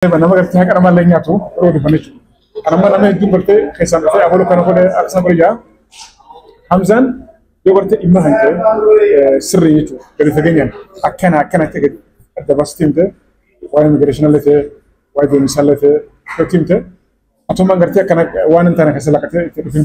Nama gartee haqa namaa illee nyaatu yeroo odeeffanne jechuudha. Kan amma nama hedduun gartee keessaan dhufee abaluu kana godhe akkasuma godhe jaa. Hamzaan yoo gartee dhimma kan ta'e sirrii jechuudha. Gadi fageenyaan akkana akkana akka gadi adda baasitee himte waa'ee immigireeshinii illee ta'e waa'ee deemsaa illee ta'e irratti himte. Atummaan gartee akkana waan hin taane keessa lakkatee itti dhufin.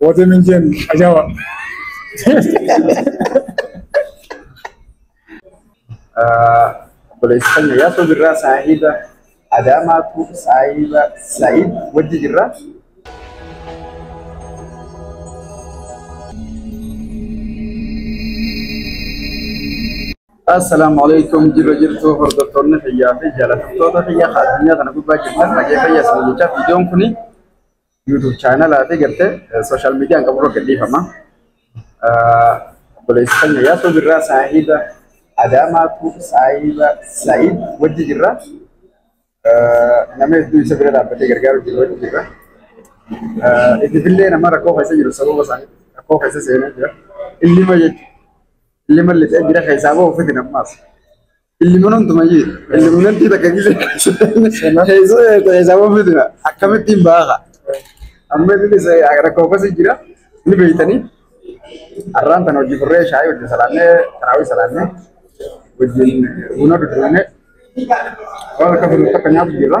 Woote minjeen ajawa. Obboleessi keenya yaasoo jirraa saahiba Adaamaatu saahiba Sa'iid wajji jirraa. Assalaamu alaikum jirra jirtu hordoftoonni fayyaa fi jaalattoota fayyaa addunyaa kana gubbaa jirtan dhaggeeffayyaa isin jechaa viidiyoon kuni YouTube chaanalaa fi gartee sooshaal miidiyaan qabu irra gadhiifama. Obboleessi keenya Yaasoo Birraa saahiba Adaamaatu saahiba Sa'iid wajji jirra. Nama hedduu isa bira dhaabbatee gargaaru jiru wajji jirra. Itifillee nama rakkoo keessa jiru sababa isaanii rakkoo keessa seenee jira. Illima jechuudha. Illima lixee bira keessaa bahu fitin ammaas. Ilman hundumayyuu ilmnantii takka gisee isaaf ofiitina akkamittiin baaka amma inni isa rakkoo akkasi jira ni beeytanii har'aan tan hojii furree shaayii wajjin salaannee taraawii salaannee wajjin buna dudduunee waan akka furu takka nyaatu jirra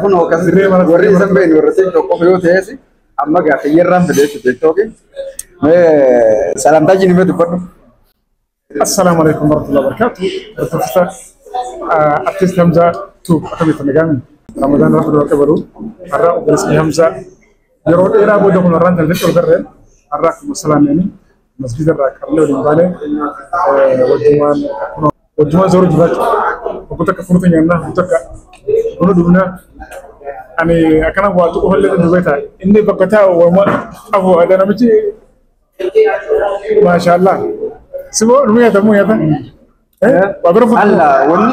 Kun hookas warri isan beeknu warra siin tokko yoo ta'es amma gaa kiyyarraan fidee fi jettooki. Salaamtaa jiru mee dubbadhu. Assalaamu alaikum warahmatullahi wabarakatuh. Barsiisa Artiist Hamzaa Tuub akkamitti nagaan Ramadaan Rabbi dura qabalu har'a obboleessi Hamzaa yeroo dheeraa booda kun har'aan daldalee ol garreen har'a akkuma salaameeni Masgiida irraa qabnee waliin baane wajjumaan wajjumaan sooruu jiraachuu obbo takka furuutu nyaannaa obbo takka buna dhugnaa ani akkana waa tuqu illee ni dubeeta inni bakka taa'u waama qabu adda namichi maashaallah siboo nu nyaata mu nyaata waa bira fuutu. Allah wanni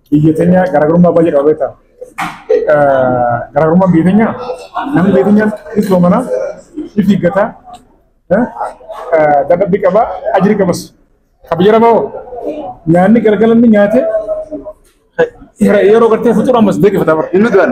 Biyya teenya garaagarummaa baay'ee qaba beektaa? Garaagarummaan biyya teenya namni biyya teenya ni soomana, ni fiiggata, dadhabbi qaba, ajiri qabas. Kan biyya lafaa hoo nyaanni galgala inni nyaate yeroo gartee fuxura ammas deebifata bara. Inni du'an.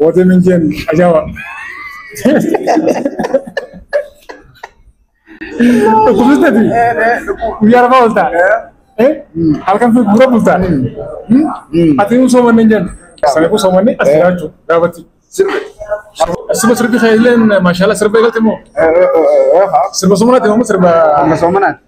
Woote minjeen ajawa. Dhukkubsatti guyyaa lafaa oolta. Halkan fi gura bulta. Ati immoo soomanne hin jennu. Sana kun soomanne as jiraachuu gaafatti. Sirba sirbi kee illee maashaallah sirba eegalte moo? Sirba soomanaati moo sirba? Amma soomanaati.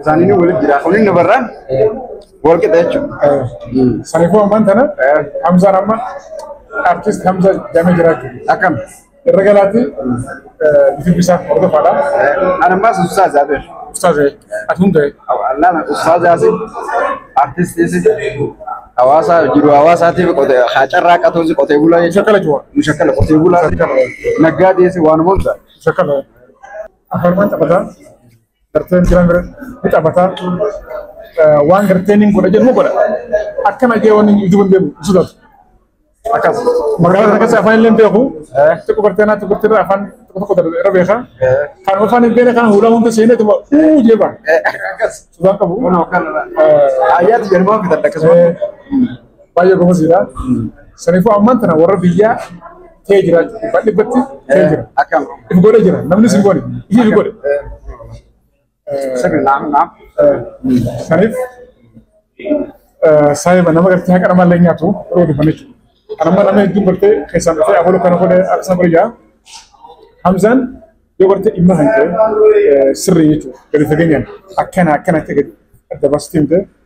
Isaaniin walitti jira. Kunin nu barraan wal qixa jechuudha. Saniifuu ammaan tana Hamzaan amma artist Hamza jedhamee jira jechuudha. Akkam. Irra galaatti YouTube isaa hordofaadha. Ana ammaa sun Ustaaz Abir. Ustaaz ati hundee. Allaana Ustaaz Yaasin artistiisi hawaasa jiru hawaasaatiif qotee haa carraaqatuusi qotee bulaa jechuudha. Shakkala jiru. Mushakkala qotee bulaa naggaa dhiyeessi waan hunda. Shakkala. Afaan waan taphataa. Garteen jiran ni taphata. Waan garteen hin godha jedhu godha. Akkana jee waan inni ijuban deemu hin sodaatu. Akkas. Magaalaa kana keessa afaan illee hin beeku. Xiqqoo garteen haa xiqqoo xiqqoo afaan tokko tokko darbe irra beeka. Kan afaan hin beekne kan hulaa hunda seenee tuma uu jee ba'a. Sodaan qabu. Ayyaatu jedhamaa fitan akkasuma. Baay'ee gomoziidha. Saniifuu ammaan tana warra biyyaa kee jira dhibbaa dhibbatti kee jira. Akkam. If godhe jira namni si godhe ishii si godhe. Sirri naam naam. Saniif saayiba nama gartee haqa nama illee nyaatu yeroo dhufan jechuudha. Kanammoo nama hedduun gartee keessaan dhufee abaluu kana godhe akkasuma godhe jira. Hamzaan yoo gartee dhimma kan ta'e sirrii jechuudha gadi fageenyaan akkana akkana ta'e gadi adda baasitee himtee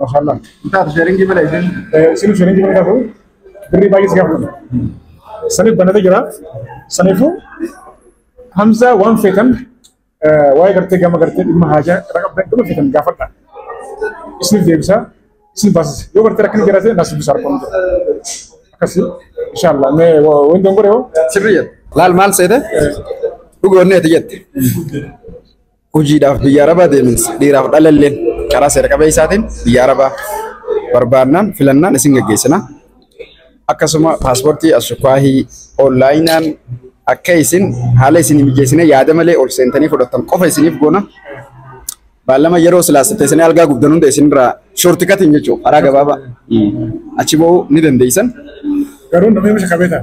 Mashallah. Taatu sheeringii bala isin. Isin sheeringii bala taatu birrii baay'ee si gaafatu. Saniif banatee jira. Saniifuu Hamza waan feetan waa'ee gartee gama gartee dhimma haajaa irra qabdan gama feetan gaafadha. Isiniif deebisa. Isin baasisa. Yoo gartee rakkina jiraate naas dubbisa harkoon jira. Akkasii. Inshallah. Mee waan dongoree hoo? Sirrii jedha. Laal maal seete? Dhugoonneeti jette. Hojiidhaaf biyya Arabaa deeminsa dhiiraaf dhalalleen karaa seera qabeessaatiin biyya Arabaa barbaannaan filannaan isin gaggeessina. Akkasuma paaspoortii ashukaahii onlaayinaan akka isin haala isin mijeessine yaada malee ol seentanii fudhattan qofa isiniif goona. Baallama yeroo silaas teessanii algaa gubdan hunda isinirraa shoorti katiin jechuudha karaa gabaabaa achi ba'uu ni dandeessan. Garuu namni misha qabeetaa?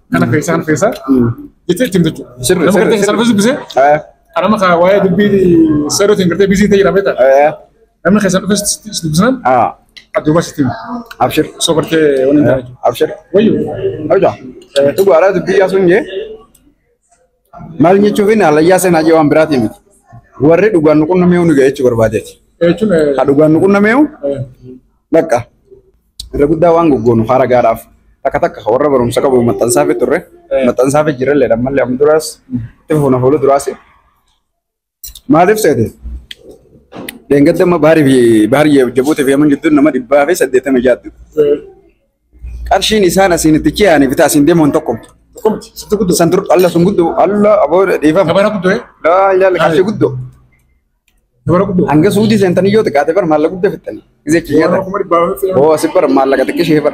kana keessaa kana keessaa jettee ittiin jechuudha. Sirri, Nama sirri, gartee sirri. salphis dubbisee Eh, anama kaa waa'ee dubbii seerootiin gartee biizii ta'e jira beektaa. eh, Namni keessan dhufes dubbisnaan ah, adduma sitti hima. abshir. Osoo gartee waliin ta'a jechuudha. Abshir. Wayyo. Abshir. Dhugaadhaa dubbii yaasuun jee. Maal jechuufin halayyaa seenaa jee waan biraatii miti. Warri dhugaan nu qunnamee nu ga'eechuu barbaadeeti. Jechuun eh, Ka dhugaan nu qunnamee eh, bakka irra guddaa waan goggoonu haara gaadhaaf takka takka ka warra barumsa qabu maxxansaa fi turre maxxansaa fi jirallee dhammallee amma duraas itti fuuna fuula duraas Maaliif seete? Dheengadda amma baarii fi baarii jabbuutii fi yaman gidduun nama dhibbaa fi saddeettama jaatti. Qarshiin isaan asiin itti ce'anii bitaa asiin deemuun tokko. Kumti, sitti guddoo. San dur alla sun guddoo alla aboo dhiifama. Dabara guddoo eh? Laa ilaala qarshii guddoo. Dabara guddoo. Hanga suudii seentanii yoo xiqqaate bar maallaqa guddaa fixxanii. Gisee Warra ciyyata. kuma dhibbaa fi Boo asi bar maallaqa xiqqishee bar.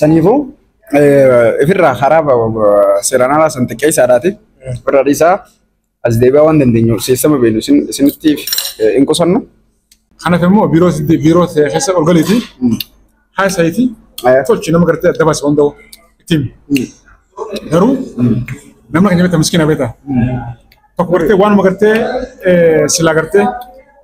Saniifuu ifirraa karaa seeraan alaa san xiqqeessaadhaati. Ofirraa dhiisaa as deebi'aa waan dandeenyu seessama beenu isinitti hin qusannu. Kanaaf immoo biiroo biiroo keessa ol galiiti haasa'iiti tolchi nama gartee adda baase hunda'u ittiin garuu nama keenya beektaa miskiina beektaa tokko gartee waanuma gartee silaa gartee